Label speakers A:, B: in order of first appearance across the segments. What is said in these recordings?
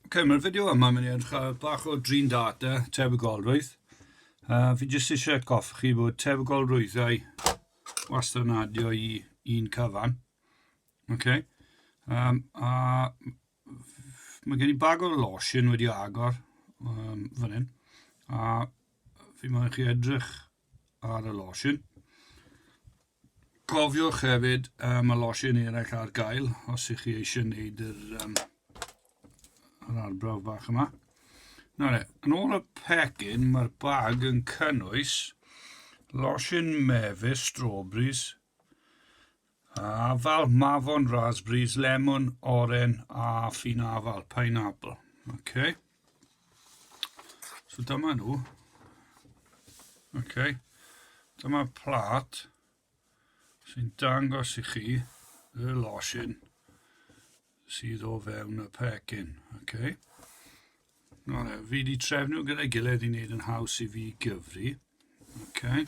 A: Ok, mae'r fideo yma mynd i edrych ar bach o drin data tebygolrwydd. Uh, fi jyst eisiau atgoffa chi bod tebygolrwyddau wastad yn adio i un cyfan. Ok, um, a mae gen i bag o lotion wedi agor um, fan hyn. A fi moyn chi edrych ar y lotion. Cofiwch hefyd, mae losin eraill ar gael os ych chi eisiau gwneud yr, um, yr arbrawf bach yma. Nawr, yn ôl y pecyn, mae'r bag yn cynnwys losin mefus, strawberries, a afal, mafon, raspberries, lemon, oren a ffin afal, pineapple. Okay. So dyma nhw. Oce. Okay. Dyma plat sy'n dangos i chi y losin sydd o fewn y pecyn. Oce. Okay. No, no, fi wedi trefnu gyda'i gilydd i wneud yn haws i fi gyfri. Oce. Okay.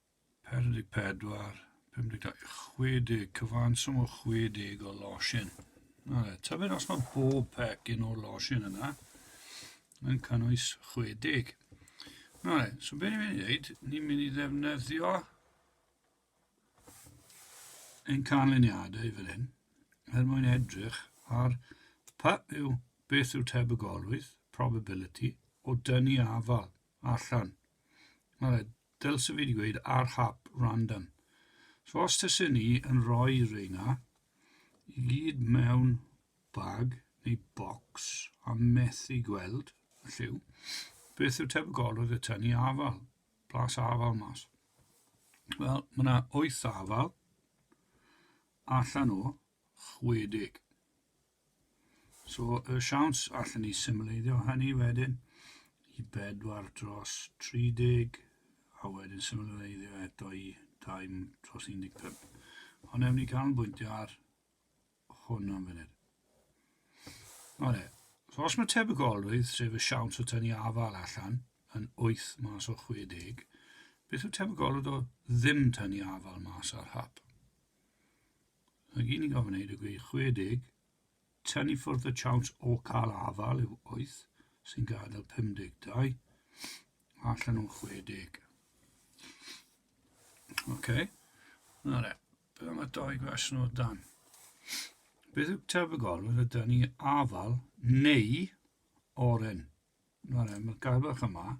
A: 44, 52, 60, cyfanswm o 60 o losin. Nawr, tybed os mae bob pecyn o'r losin yna yn cynnwys 60. Nawr, so beth ni'n mynd i wneud, ni'n mynd i ddefnyddio ein canlyniadau fel hyn er mwyn edrych ar pa yw beth yw tebygolrwydd, probability, o dynnu afal allan. Nawr, Dylse fi 'di gweud ar hap random. So os tase ni yn rhoi reina i gyd mewn bag neu box a methu gweld y lliw, beth yw tebygolrwydd y tynnu afal, blas afal mas? Wel, mae yna 8 afal allan o 60. So, y siawns allen ni symleiddio hynny wedyn i bedwar dros 30, a wedyn symleiddio eto i 2 dros 15. Ond ewn ni canolbwyntio ar hwn am funud. Ole, so os mae tebygolrwydd, sef y siawns o tynnu afal allan, yn 8 mas o 60, beth yw tebygolrwydd o ddim tynnu afal mas ar hap? Mae gen i ofn ddweud y gwir, 60, tynnu ffwrdd y siawns o gael afael yw 8, sy'n gadael 52, a allan o'n 60. Ok, na re, beth am y doi gwestiwn o dan? Beth yw tebygol yn y dyn ni afael neu oren? Na re, mae'r gair bach yma,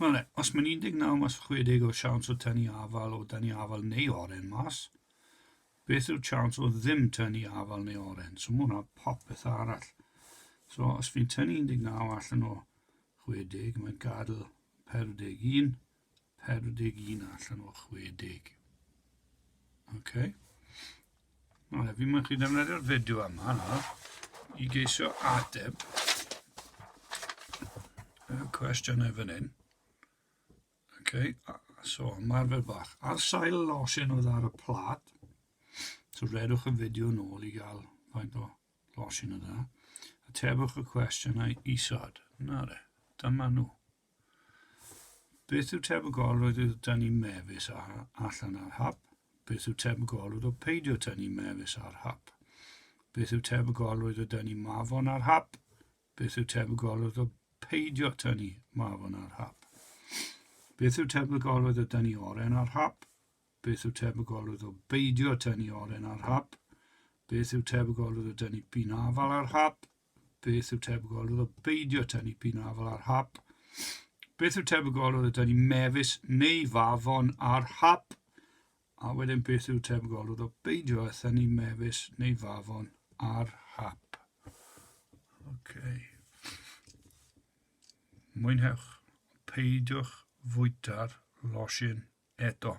A: Wel, os mae'n 19 mas 60 o siawns o tynnu afal o dynnu afal neu oren mas, beth yw'r chance o ddim tynnu afal neu oren? So mae hwnna popeth arall. So os fi'n tynnu 19 allan o 60, mae'n gadael 41, 41 allan o 60. OK. Wel, fi mae'n chi ddefnyddio'r fideo yma nawr i geisio ateb y cwestiynau fan hyn. OK, so ymarfer bach. Ar sail losin oedd ar y plat, so redwch y fideo nôl i gael faint o losin oedd yna. Atebwch y cwestiynau isod. Na re, dyma nhw. Beth yw tebygol roedd o tynnu mefus ar, allan ar hap? Beth yw tebygol roedd o peidio tynnu mefus ar hap? Beth yw tebygol roedd o dynnu mafon ar hap? Beth yw tebygol roedd o peidio tynnu mafon ar hap? Beth yw tebygol roedd o dynnu oren ar hap? Beth yw tebygol roedd o beidio tynnu oren ar hap? Beth yw tebygol roedd o dynnu pin afal ar hap? Beth yw tebygol? Oedd o beidio tynnu pin o afal ar hap. Beth yw tebygol? Oedd o dynnu mefus neu fafon ar hap. A wedyn beth yw tebygol? Oedd o beidio a thynnu mefus neu fafon ar hap. Okay. Mwynhewch. Peidiwch fwyta'r losin eto.